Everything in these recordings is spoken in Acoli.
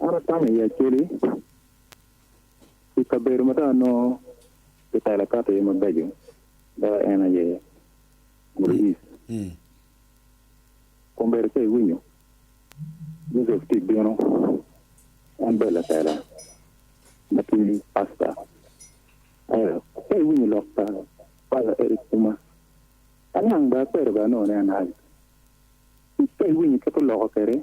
An atamo i Acholi, i kabedo ma dong anongo kitelo kato iye mabeco dok en aye Muru East. Kombedo ka iwinyo, Joseph tye bino, en bedo latela ma tye pasta. Ento ka iwinyo lok pa Paza Eric Puma, aniang bene akwero bene anongo ni en Haji. Ka iwinyo kit oloko kwede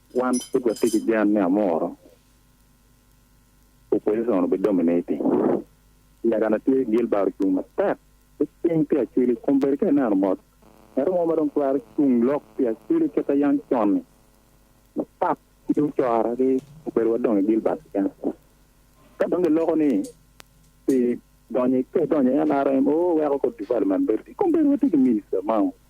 Wan pud watye ki gen ni amuru opposition obi dominating. Lagana tye Gilbert ocung matek ki cing pi Acwili kun bedi ka ineno mot ngatu mo ma dong twero cung lok pi Acwili kit ayang con-ni mapat ki ocora ki obedo wa dong i Gilbert keken. Ka dong giloko ni pi donyo i donyo i NRM oo weko kor development bedo tye kong bedo watye ki minister mao.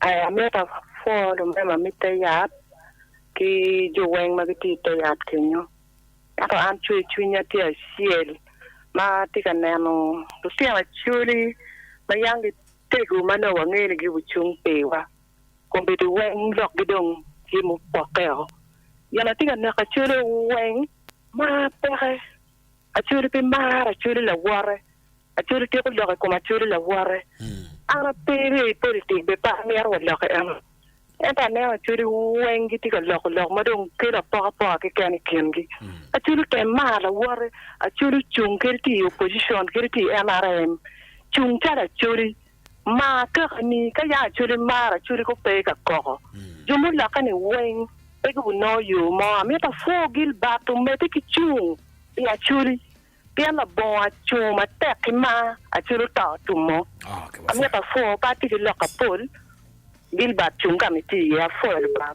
Aye amito apwoo lumema me te yat ki jo weng ma gitye i te yat kenyo. Ento an cwer cwinya tye acel ma atye ka neno lutino Acholi ma yam gitego ma nongo wangeyo ni gucung piwa. Kombeddi weng lokgi dong tye mupokke woko. Gin atye ka neko Acholi weng mar peke. Acholi pe mar Acholi lawote. Acwalo tyeko lok i kom Acwalo lawote. An ape irye i politik be pe amito wa lok i eno. Ento aneno Acwali weng gitye ka loko lok ma dong kelo apokapoka keken i kingi. Acwalo tem maro lawote. Acwali ocung kadi tye i opposition kadi tye i nrm. Cung calo Acwali. Mar kakani. Ka yam Acwali maro Acwali kong pe ka koko. Jo mulokke ni weng pe gubinongo yo mo. Amito apwo gilbat omedde ki cung i Acwali. Pien labongo acungo matek ki mar, Acel oto otumo. Amito apwoo pe atye ki lok apol, Gilbert cung ka ma itye iye. Apwoyo tutwal.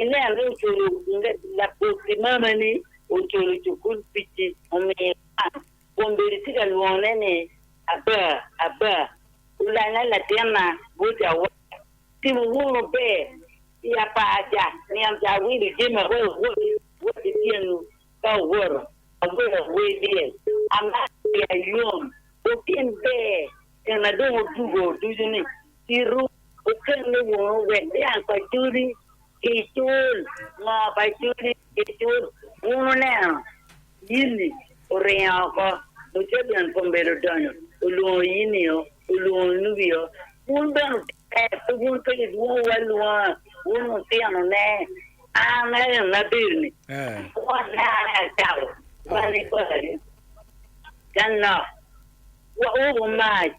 Inen ni oculo labotti mamani oculo cukul pici omiyo iwang kun bedo itye ka lwongone ni Abba, Abba, Olanga latinna, Bwocca awaka. Timo wunu ber pi apaca nino ca awilo jami aroyo awot awot i tyenwu ka owoto awelo awer dyel amaro pi ayom okin ber nina dong odugo ducu ni, Pi ruu. Okelle woko wek dyang pa codi gicul moo pa codi gicul. Wun wuneno Yini oringo oko, Mucedon kombeddi odonyo, olwongo Yini o, olwongo Nubi o, wun bene wutere, pe wun pe idwongowu alwonga, wun wutinone. An aye en ma abedo-ni, wonna aye acako bal i bali ka nok, wek wubu mac.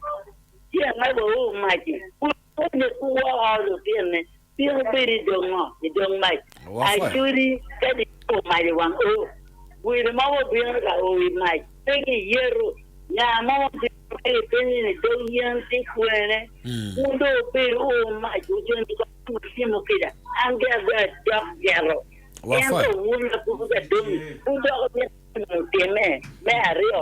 Ci angabo wu mac-ci, wun moni ku woko lutinni, pien wubedo i dog ngo? I dog mac. Acodi ka diyeto mac i wang u, wino mo wubino ka o i mac, pe ki yeto. Nga mo ma bino ka kipenyo ni, Dog yen tye kwene? Wun dong wubedo u mac, wujony kong i ngut cimo kica, an ge agoyo adok jeto. Ento wun apupu ka dong wudoko nino gin mutimme me aryo.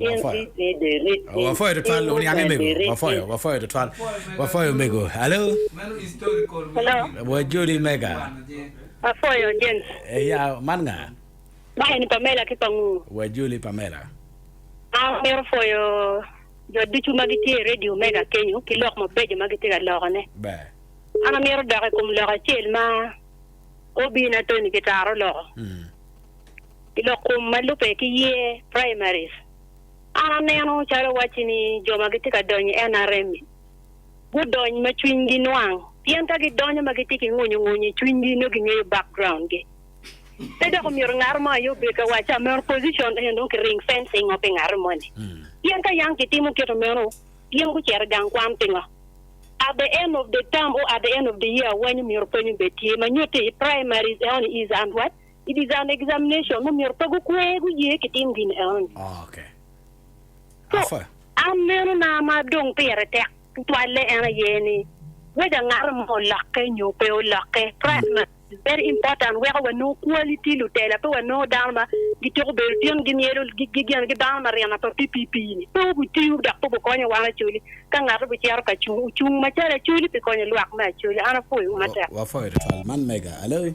In Ritni de rit in, in mukene de rit in. Wafoyo, wafoyo tutwal. Wafoyo mego. Hello? Hello? Wa Jodi mega. Afoyo James. Eh, ya, man nga? Ma eni Pamela ki Pangu. Wa Joli Pamela. An amito foyo jo ducu ma gitye i redio mega kenyo ki lok mabeco ma gitye ka lokone. Ber. An amito dok i kom lok acel ma OB-na Tony Kitara oloko. Mm. i lok kom ma lubbe ki year primaries, an aneno calo wacci ni jo ma gitye ka donyo i NRM ni gudony ma cwinygi nwang pien ka gidonyo ma gitye ki ngwonyo ngwonyo i cwinygi nongo gingeyo background gi. Pe dok omyero ngat mo aye obed ka wacci ameno position eno dong ki ring fencing o pi ngat moni pien ka yang kitimo kit meno gin gucito i gang kwan pingo? At the end of the term or at the end of the year awanyu myero pwony obed tye ma nyutti i primaries eno ni is and what? i design examination ma myero pe gukwe guye ki tim gin enoni. So, an neno na ma dong pire tek tutwalle en aye ni, weda ngat mo olokke nyo pe olokke, price ma is very important weko wanongo quality lutela pe wanongo dano ma gityeko bedo tin gimyelo gin gibano marina pa PPP ni pe obitiyo dok pe obikonyo wan Acholi ka ngat obicito ka cung ocung macalo Acholi pi konyo lwak me Acholi an apwoyo wu matek. Wapwoyo tutwal. Man mega. Alo.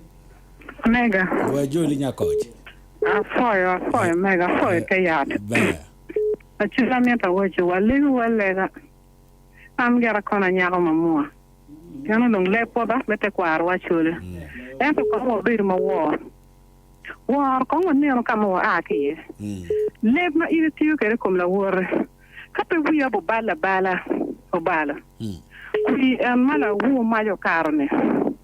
Mega. Dwai ajoli nya koc. Apwoyo apwoyo mega apwoyo te yat. Ber. Acu amito awaco wa legi wa lega an gin akono anyako ma mua pien onongo lee pota me tekwaro wa acole ento kong wa bedo ma wor wor kong wa neno ka ma wa aa ki iye leb ma in itiyo kede ikom lawote ka pe wiya bu balo abala obalo kwi en ma lawu mac okato ni.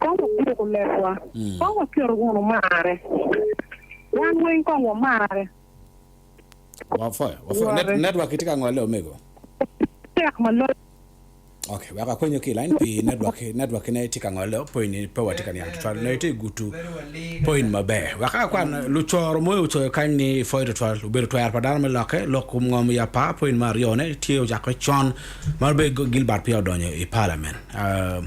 Kong wagwok lekwa, kong waket wunu marre, wan weng kong wamarre. Wapwoyo, wapwoyo. Net, network kitye ka ngole omego. Tek ma loyo. Okay, wek akwenyo ki line pi network, network kine tye ka ngole po ini pe watye ka niang tutwal. Nongo itye gutu point maber. Wek akwan lucoro moyo ocoyo kany ni pwoyo tutwal. Obedo twero pa dano me lokke, lok kom ngom ya pa point me aryo ne tye ocako con ma be Gilbert peya odonyo i parliament. Uh,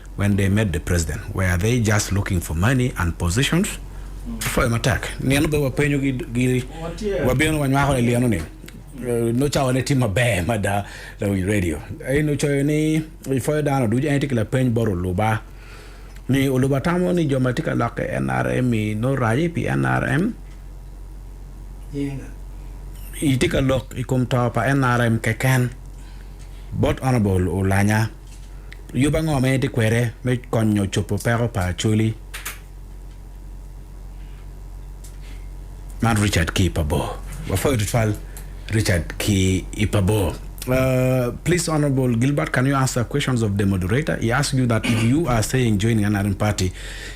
When they met the president were they just looking for money and positions? Pwoyo matek. Nino bene wapenyo gi giri wabino wanywako ni lino ni nongo cawa ne tye maber mada lawic radio aye nongo coyo ni i pwoyo dano ducu en aye tye ki lapeny bot oluba ni oluba tamo ni jo ma tye ka lok i nrm i nongo raje pi nrm i tye ka lok i kom to pa nrm keken bot honorable olanya. Yub ango ma in itye kwede me konyo cobo peko pa Acholi? Man Richard ki i Pabor. Wapwoyo tutwal Richard ki i Pabor. Uh, please, Honorable Gilbert, can you answer questions of the moderator? He asked you that if you are saying joining an Arin party,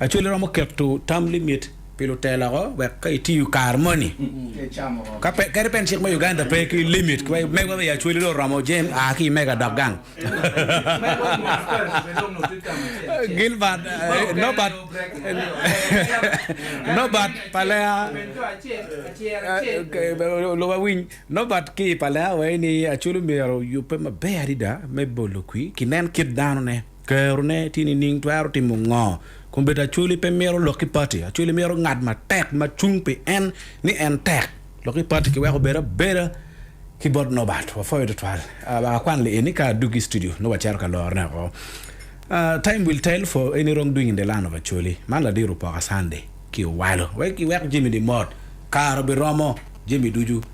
Acholi romo keto term limit pi lutela woko wek ka itiyo kare moni ka pe kadi bene cik me Uganda pe ki limit ki wek megwa i Acholi dong oromo jam a ki i mega dok gang. Gilbert Norbert Norbert Palea luba winy Norbert ki i Palea waci ni Acholi myero oyubbe maber adada me bolo kwir ki nen kit danone. Kerone tye nining? Twero timo ngo? Komiti Acholi pe mito lok ki pati. Acholi mito ngat matek ma cung pi en ni en tek. Lok ki pati kiweko obed abeda ki bot Norbert. Wapwoyo tutwal. Wek akwan lieni ka adwogi i studio nongo wacito ka lorone woko. Time will tell for any wrong doing in the land of Acholi. Man ladiro opoka Sunday ki owalo. Wek iwek jami-ni mot. Kare obiromo jami ducu.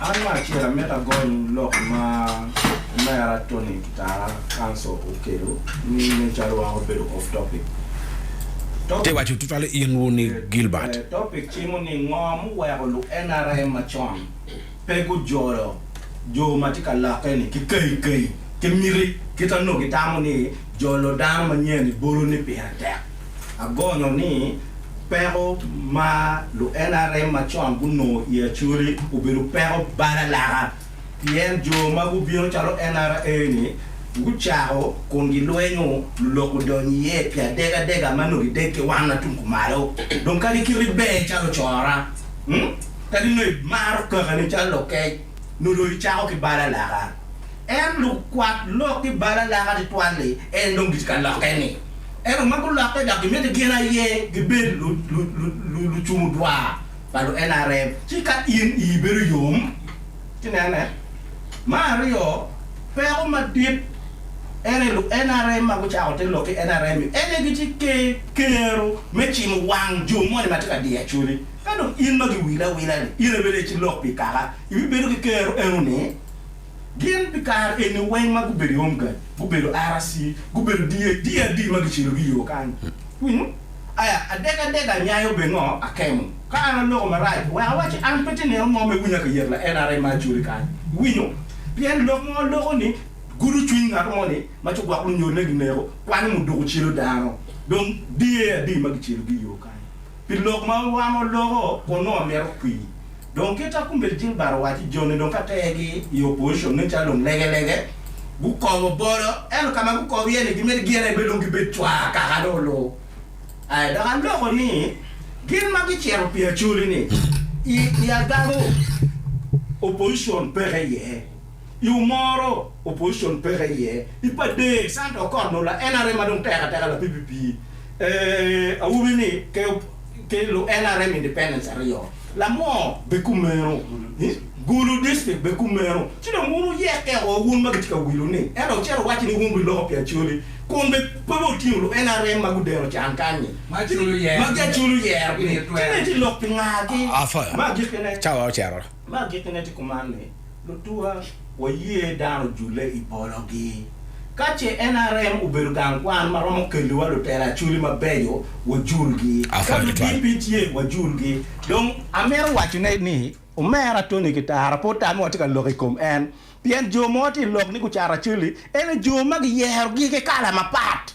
An me acel amito agony lok ma Omera Tony Kitara Kanso okelo ni me calo weko obedo off topic. Topic, Ite waco tutwale in wu ni Gilbert. Eh, topic cimo ni ngo muweko lu nrm macon pe gujolo jo ma tye ka lokke ni ki kayi kayi ki miti kit anongo gitamo ni jolo dano manyen i bolo ni pire tek. Agonyo ni peko ma lu NRM ma con gunongo i Acholi obedo peko balalaka pien jo ma gubino calo NRA-ni gucako kun gilwenyo lulok gudonyo iye pi adeg adega ma nongo gideg ki wan ma tung kumalo. Dong kadi kiti ber calo cora, kadi nongo imaro kakani calo lokec, nongo dong icako ki balalaka. En lukwat lok ki bal alaka twatwal-li en dong gitye ka lokke-ni. Ento ma gulokke dok gimiti gin aye gibed lucung odwar pa lu NRM ci ka in ii bedo yom ci nene. Me aryo, peko madit en aye lu NRM ma gucako te lok ki NRM-mi en aye gitye ki kero me cimo wang jo moni ma tye ka diyo acoli. Ka dong in ma giwili awila-ni in aye bedo aye ci lok pi kaka ibibedo ki kero eno-ni. Gin pi kare eni weng ma gubedo i Omga, gubedo RC, gubedo DA, DRD ma gicelogi i yo kany. Winyo? Aya, adek adek anyayo be ngo akemo. Ka an aloko marac, wek awacci an pe tye neno mo me winya ka yet la NRM ma acoli kany. Iwinyo? Pien lok mo loko ni gudo cwiny ngato mo ni ma ci gwok lunyolle gineko, kwanyo mo duko celo dano. Dong DARD ma gicelogi i yo kany. Pi lok ma wan waloko, wonongo myero okwi. Dong kit a Kumbel Gilbert owaco, joni dong ka tergi i opposition nen calo dong lege lege gukomo bolo ento ka ma gukobo iye ni gimito gin aye bedo dong gibed cwaa kaka dong olu aye dok aloko ni gin ma gicito pi Acholi ni i agano opposition peke iye. I umoro, opposition peke iye i pade Santa okot no la nrm ma dong tek ateka la pipi pi eeh awobi ni ke ke lu nrm independence aryo lamoo be kumeno ih gulu district be kumeno ci dong wun wuyekke oo wun ma gitye ka wilu ni ento ocito owacci ni wun bi loko pi Acholi kun be pe be otingo lu nrm ma gudeno can kanyi ma Acholi oyero magi Acholi oyero gi ni ci dong itye lok pi nga ki ma agikkine. Cawa ocito Me agikkine tye kuman ni, lutuwa waye dano ojule i pologi. Ka ce NRM obedo gang kwan ma romo kelliwa lutela Acholi mabeco, wajulgi. Ka ludp tye, wajulgi. Dong amito wacone ni, omera Tony Kitara pe otame watye ka lok i kom en. Pien jo mo tye i lok ni gucato Acholi, ento jo ma giyerogi ki kala mapat.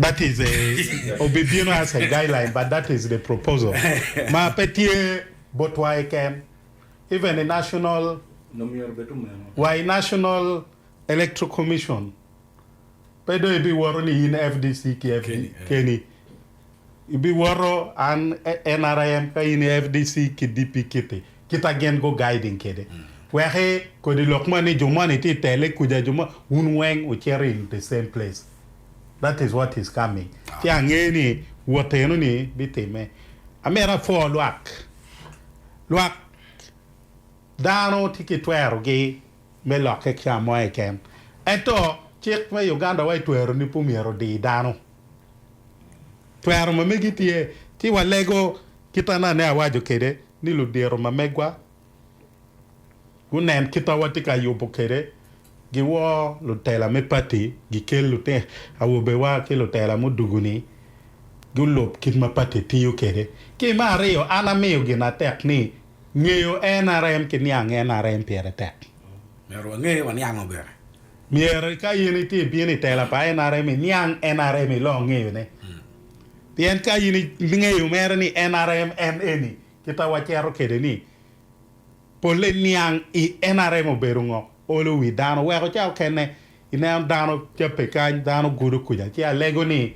that is a obibino as a guideline but that is the proposal ma pe tye botwa keken even i national wa i national electoral commission pe dong ibiwoto ni in fdc ki keni ibiwoto an nrm ka in fdc ki DP kiti kita gin gu guiding kede weki kodi lok moni jo moni tye i tele kuca jo moni wun weng wucito in the same place. That is what is coming. Ci angeyo ni wot eno ni bitime. Amito apwo lwak. Lwak dano tye ki twero gi me lokke ki kamo keken. Ento cik me Uganda wa itwero ni pe omyero odi dano. Twero ma megi tye. Ci walego kit anane awaco kede ni ludiro ma megwa. gunen kit ma watye ka yubo kwede, giwor lutela me pati, gikel lutino awobewa ki lutela mudugu-ni gulub kit ma pati tiyo kwede. Ki me aryo, an amiyo gin atek ni ngeyo NRM ki niang NRM pire tek. Myero wange waniango bene. Myero ka in itye ibino i tela pa NRM iniang NRM iloo ngeyone. Pien ka in ingeyo mere ni NRM en eni, Kit ma wacito kwede ni polle niang i nrm obedo ngo? Olo wi dano weko ca okene. I neno dano cabbe kany, dano gudo kuca. Ci alego ni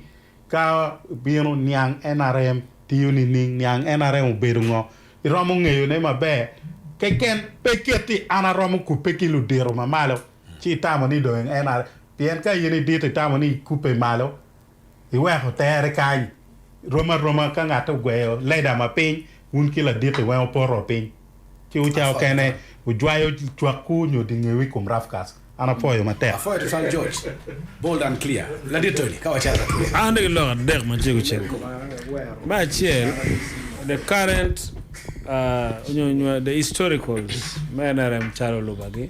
ka ibino niang nrm tiyo nining? Niang nrm obedo ngo? I romo ngeyo ne maber keken. Pe keti an aromo kubbe ki ludito ma malo ci itamo ni dong nrm. Pien ka in idito itamo ni ikubbe malo iweko tere kany. Rom aroma ka ngat ogweyo leda ma piny, wun ki laditi weng wupoto wa piny, ci wuca okene wujwayo cwakku nyo dingewu i kom rafkas. An apwoyo matek. Apwoyo tutwal George, bold and clear, ladit Tony, ka wacako atwir. An atye ki lok adek ma cego cego. Me acel, the current nyo the historicals me nrm calo luba gi.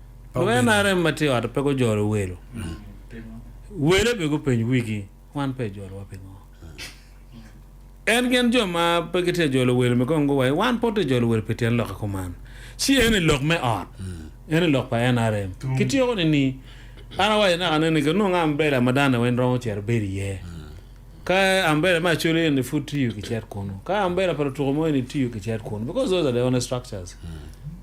Lawyer NRM ma tye i ot pe gujolo welo. Wele be gupeny wigi, Wan pe ijolowa pingo? En gin jo ma pe gitye ka jolo welo-ni kong guwaci, Wan pud tye ka jolo welo pi tyen lokke kuman. Ci eni lok me ot, eni lok pa NRM. Kityeko nini? An awaco naka ni ni kinongo ambela ma dano weng romo cito bedo iye. Ka ambela me Acholi eni pud tiyo, kicit kunu. Ka ambela pa lutuko mo eni tiyo, kicit kunu because those are the only structures.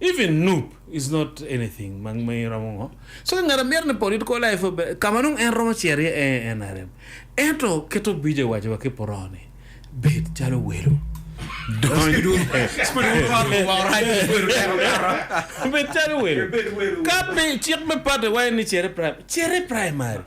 Even nup is not anything ma ma iromo ngo. So ka ngat a mito ni political life obe ka ma nongo en romo cito iye ee NRM. Ento keto bije iwaci wa ki puroo ni bed calo welo dony bed calo welo ka pe cik me party wa en ni cere primary cere primary.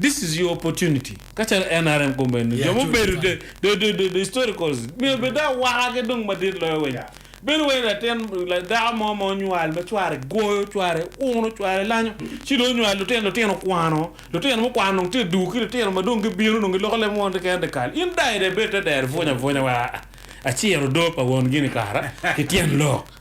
This is your opportunity kacalo nrm gomenti jo mubedo the historicals myero bed dong awaka ki dong madit loyo weng bedo wai latin dako mo ma onywal ma cware goyo cware uno cware lanyo ci dong onywal lutino lutino kwano lutino mukwano dong tye duu ki lutino ma dong gibino dong giloko leb mo keken te kal in dai dong ibed te dero ipwony apwonya wa aciro odoo pa won gini kara ki tyen lok.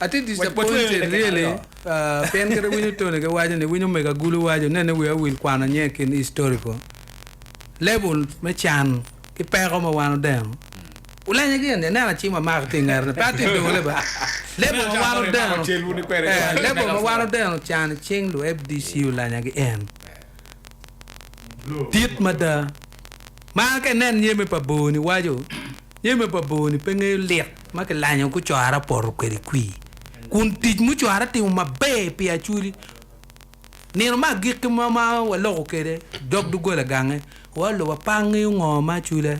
Atye disappointed really pien kit iwinyo Tony ki waco ni iwinyo omego agulu waco nene wiya owil kwano nyo i kin historical level me can ki peko ma wan odeno ulenya gin ni aneno acim amako tye ingete ni pe atye idole ba level ma wan odeno eh level ma wan odeno can i cing lu FDC ulenya gi en dit mada ma ka inen nyeme pa bor ni waco nyeme pa bor ni pe ngeyo lit. ma kilanyo gucora poto kwede kwir, kun tic mucora timo maber pi Acudi. Nino me agikki mo ma waloko kwede dog doggola gange, waolo wa pe angeyo ngo ma Acudi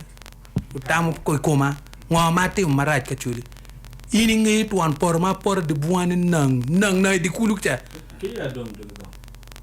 otamo i koma, ngo ma atimo marac ki Acudi. In ingeyo twon poto ma apoto dye bunga ni nang nang nang i dye kulu ca.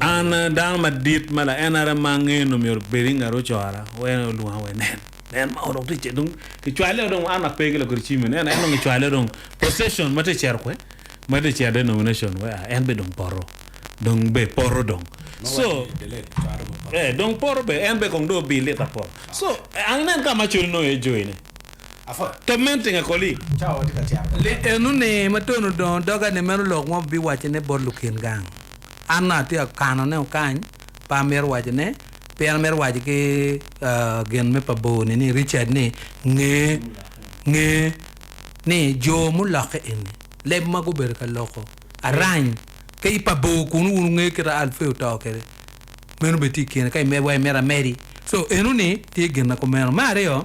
An dano madit ma laenara ma angeyo nongo myero obed i nget ocora, en olwonga wa inen, nen ma dong tye cito, dong kicwale dong an ape ki lakwede cim nen, en dong kicwale dong procession ma tye cito kwe ma tye cito denomination wek a en bene dong poto dong bene poto dong so dong poto bene en bene kong dong obi lita poto so an inen ka ma acwale nongo iye joine. Ka meno tinga koli. Li eno ni matun odongo doga ni meno lok mo biwaco ne bot lukin gang. An nongo atye akano ne okany pe amito waco ne pien amito waco ki gin me pa bor ni ni Richard ni nge nge ni jo mulokke eni leb ma gubedo ka loko arany ka i pa bor kunu wun wungeyo kita Alfeo oto kede meno bene tye ikine ka imedwa imito amedi so eno ni tye gin na kumeno me aryo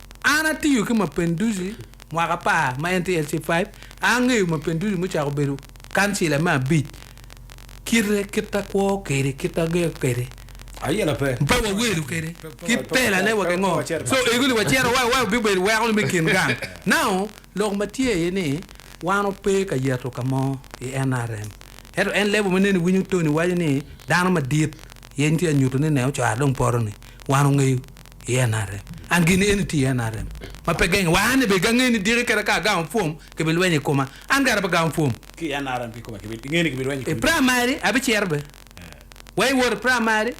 An atiyo ki Mapinduzi mwaka apar ma en tye LC5, angeyo Mapinduzi mucako bedo kancila me abic, kite, kit akwo kede, kit ager kede, mpe wa welo kede, ki pela ne wa ki ngo, so ego li wa cito wa wa bi bedo weko ni me kin gang. Now, lok ma tye aye ni wan o pe ka yeto ka mo i NRM, ento en level ma nene i winyo Tony waco ni dano madit yeny tye anyuto ni ne ocwara dong poto ni, wan ongeyo i NRM. An gin eni tye i NRM ma pe geng wa. An be gange ni diki keda ka agamo pwom kibi lwenyo i koma. An kara pe gamo pwom. Ki i NRM kikome kibi inge ni kibi lwenyo i koma. I primary abi cito be wa i wot i primary.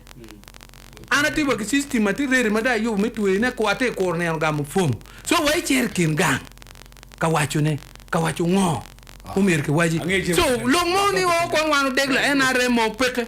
An atye wa ki system ma tye ready ma dong ayubo me tweyo ne kor atye kuro nino gamo pwom. So wa icito i kin gang ka waco ne ka waco ngo ma myero kiwaci. So lok mo ni o kong wan odegla NRM oo peke.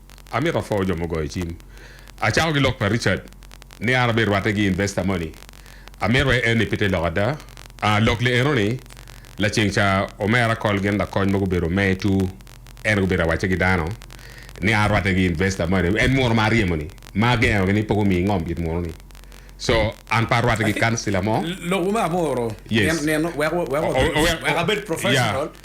Amito apwoo jo mugoyo cim. Acako gi lok pa Richard ni an abed rwatte gi investor moni. Amito aye enni pite lok ada. Aa lok li enoni, laceng ca omera kol gin lakony mogo obedo me tu en gubedo awacce gi dano ni an rwatte gi investor moni. En munu ma aryemo ni ma agengo gi ni poko mi ingom it munu ni. So an pe arwatte gi councilor mo. Lok wu me amuru Yes. nino wek wek wek abed professional. Yeah.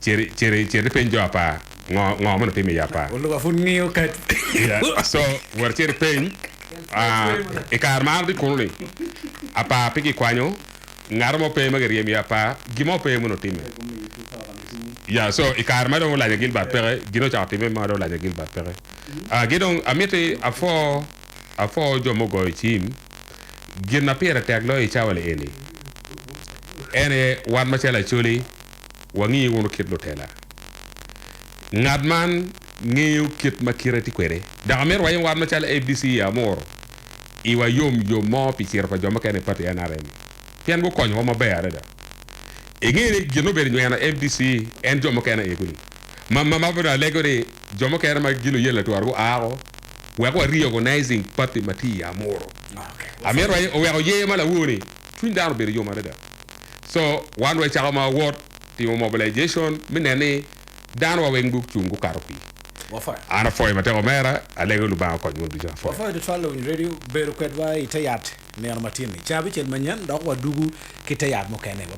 Citi, citi ipeny jo apar ngo, ngo ma nongo timo iye apar. Oluka pud ngiyo kadi. Yeah, so wot icit ipeny, ah, i kare ma an atye kunu-ni, apar pe gikwanyo, ngato mo pe ma giryemo iye apar, gin mo pe ma onongo timme. Yeah, so i kare ma dong Olanya Gilbert peke, gin ocako timme ma dong Olanya Gilbert peke. Ah, ki dong amiti apwo, apwo jo mugoyo cim, gin ma pire tek loyo i cawa-ni eni, en aye wan macalo Acholi, wangi wunu kit lutela. Ngat man ngeyo kit ma kite tye kwede. Dok amito wayem war macalo ABC i Amuru iwa yom yom mo pi ciro pa jo mukene i pati nrm pien gukonyowa maber adada. Ingeyo ni gin obedo nyweno ABC en jo mukene aye kuli ma ma ma bene alego ni jo mukene ma gin luyen latura gua woko wek wa reorganizing pati ma tye i Amuru. Amito wayem oweko yer ma lawor ni cwiny dano obedo yom adada. So wan wa icako ma wawot timo mobilization mi nen ni dano wa weng gucung gukato pi Wafoyo. An afoyo matek omera, alego Lubanga okony mon ducu afoyo. Wafoyo tutwal lawiny radio bedo kwedwa ite yat nino matin ni cabicel manyen dok wadugu ki te yat mukene.